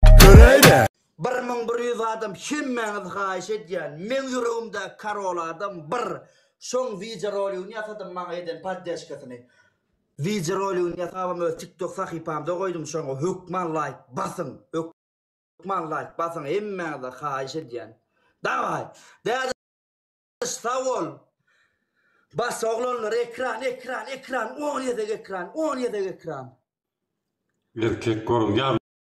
Göräýdä. Bir müň bir ýüz adam hemmäňiz haýyş edýän meň ýüregimdäki karol adam bir şoň wideoroligini ýasadym maňa eden poddeşkasyny wideoroligini ýasabam öz tiktok sahypamda goýdum şoňa hökman laýk basyň hökman laýk basyň hemmäňize haýyş edýän dawaý däde sag bol bas oglanlar ekran ekran ekran on gezek ekran on gezek ekran. Erkek görünýärmi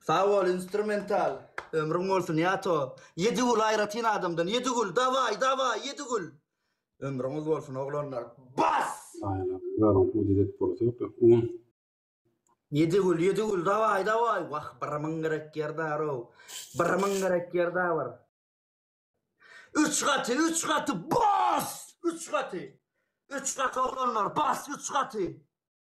Sag bol instrumental. Ömrüň bolsun Ýato. Ýedigül aýratyn adamdan. Ýedigül daway daway Ýedigül. Ömrüňiz bolsun oglanlar. Bas! Ýedigül Ýedigül daway daway. Wah bir myň gerek ýer darow. Bir myň gerek ýer da bir. Üç gaty üç gaty bas! Üç gaty. Üç gaty oglanlar bas üç gaty.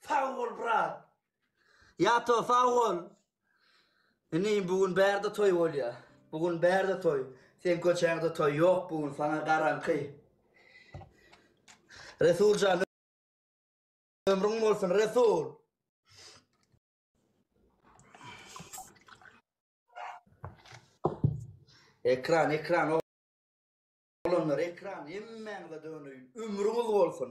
Sag bol brat. Ýato sag bol. Indi bu gün bärde toý bolýar. Bu gün bärde toý. Sen köçäňde toý ýok bu gün sana garanky. Resuljan ömrüň bolsun Resul. Ekran, ekran o. Olanlar ekran, hemmäňize döneýin. Ömrüňiz bolsun.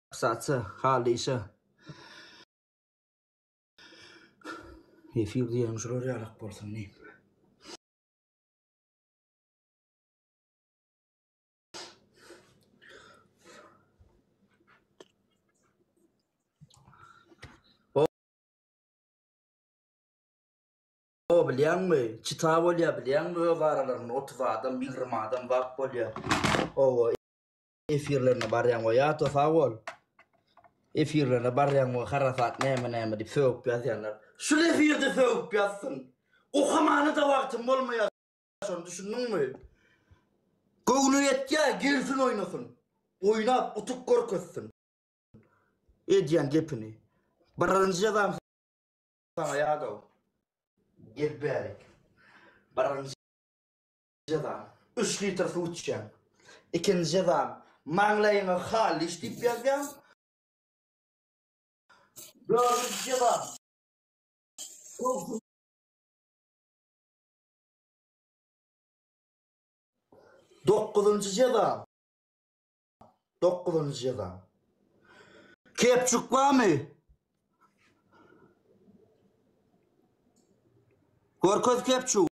Saça, halyşa. Efir diýen şular ýalak bolsun diýip. O bilýäňmi? Çita bolýa bilýäňmi öz aralarynda 30 adam, 20 adam wagt bolýa. Owa. Efirlerine barýaň we ýa-da sag bol. Efirlerine barýaň we harasat näme näme diýip sögüp ýazýanlar. Şul efirde sögüp ýazsyn. Okamana-da wagtym bolmaýar şony düşündiňmi? Göwni ýetýär gelsin oýnasyn. Oýnap utup görkezsin. Edýän gepini. Birinji ýazan saňa ýadaw. Gel bärik. Birinji. Jeza, üç litr suw içýäň. Ikinji jeza, maňlaýyňa Halliş diýip ýazýaň. Dördünji jeza, gowşuryp. Dokuzynjy jeza, dokuzynjy jeza. Kepçuk barmy? Görkez kepçugy.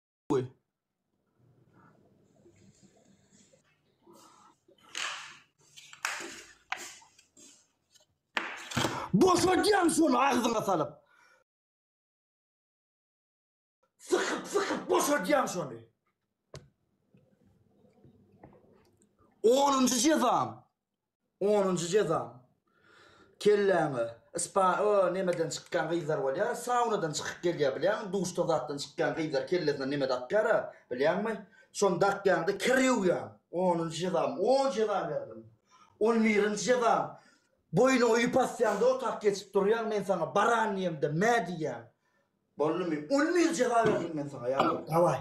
Boşadýaň şony agzyňa salyp. Sykyp sykyp boşadýaň şony. Onunjy jezam. Onunjy jezaň. Kelläňe spa o nemeden çykýan gyzlar bolýar, saunadan çykyp gelýär bilýäňmi, duşdan zatdan çykýan gyzlar kellesine neme dakýara bilýäňmi, şony dakýaňda kir ýuwýaň. Onunjy jezaň. On jeza berdim. On birinji jezaň. Boýnuňa ýüp asýaňda otap geçip durýaň, men saňa baran diýemde mä diýýäň. Boldumy? On bir jeza berdim men saňa ýa-da dawaý.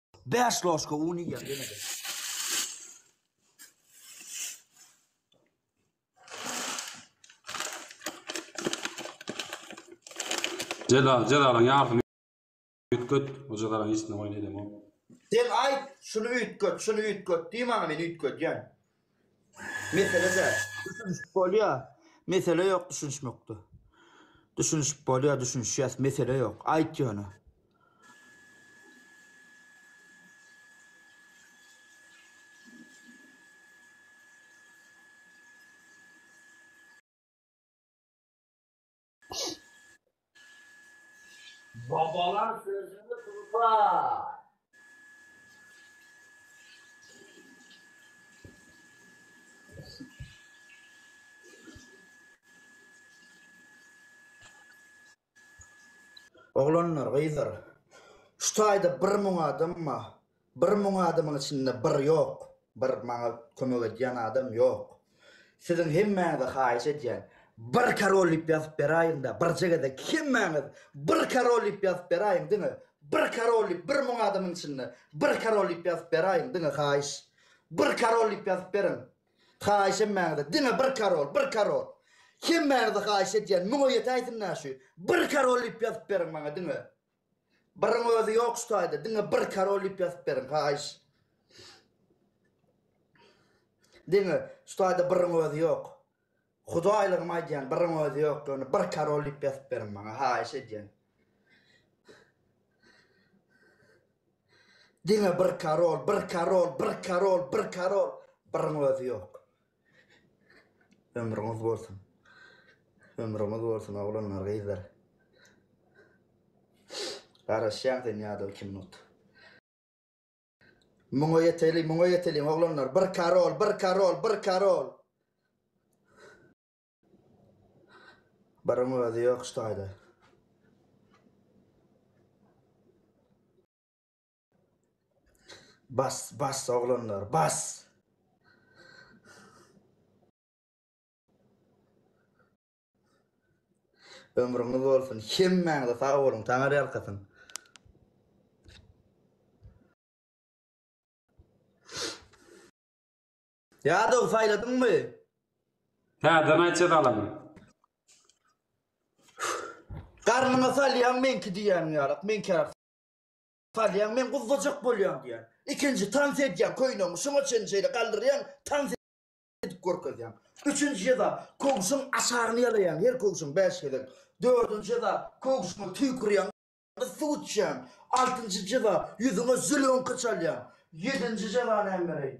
Bäş loşka un iýýän ýene-de. Celal, Celalyň ýarysyny üýtget, o Jelalyň işine boýun edemok. Sen aýt, şuny üýtget, şuny üýtget diý maňa, men üýtgedýän. Meselede düşünişip bolýa mesele ýok düşünişmekde düşünişip bolýa düşünişýäs mesele ýok aýt ýöne. Babalar sözüni tutar. Oglanlar, gyzlar, şu taýda bir müň adam bar. Bir müň adamyň içinde bir ýok, bir maňa kömek edýän adam ýok. Siziň hemmäňize haýyş edýän, bir Karol diýip ýazyp beräýiňdä, birje gezek hemmäňiz bir Karol diýip ýazyp beräýiň diňe, bir Karol diýip bir müň adamyň içinde bir Karol diýip ýazyp beräýiň diňe haýyş. Bir Karol diýip ýazyp beriň. Haýyş hemmäňize diňe bir Karol, bir Karol. Hemmäňize haýyş edýän müňe ýetäýsin-dä şu. Bir Karol diýip ýazyp beriň maňa diňe. Biriň özi ýok şu taýda, diňe bir karol diýip ýazyp beriň, haýyş. Diňe şu taýda biriň özi ýok. Hudaýlygym aýdýan, biriň özi ýok, ýöne bir karol diýip ýazyp beriň maňa, haýyş edýän. Diňe bir karol, bir karol, bir karol, bir karol, biriň özi ýok. Ömrüňiz bolsun. Ömrüňiz bolsun oglanlar gyzlar. Garaşýan sen ýadol iki minut. Muňa ýeteli muňa ýeteli oglanlar bir karol bir karol bir karol. Biriň özi ýok şu taýda. Bas bas oglanlar bas. Ömrüňiz bolsun. Hemmäňize sag boluň. Taňar ýalkasyn. Ýadow saýladyňmy? Täzeden aýt jezalan. Garnyňa salýan meňki diýýäniň ýalak. Meňki Salýaň, men guzzajak bolýan diýýän. Ikinji tans edýäň, köýnegiňi şuňa çenli şeýle galdyrýaň, tans edip görkezýäň. Üçünji jeza, köwşüň aşagyny ýalaýaň, her köwşüň bäş gezek. Dördünji jeza, köwşüňe tüýkürýäň, gyz suw içýän. Altynjy jeza, ýüzüňe zülüňki çalýaň. Ýedinji jeza näme bereýin?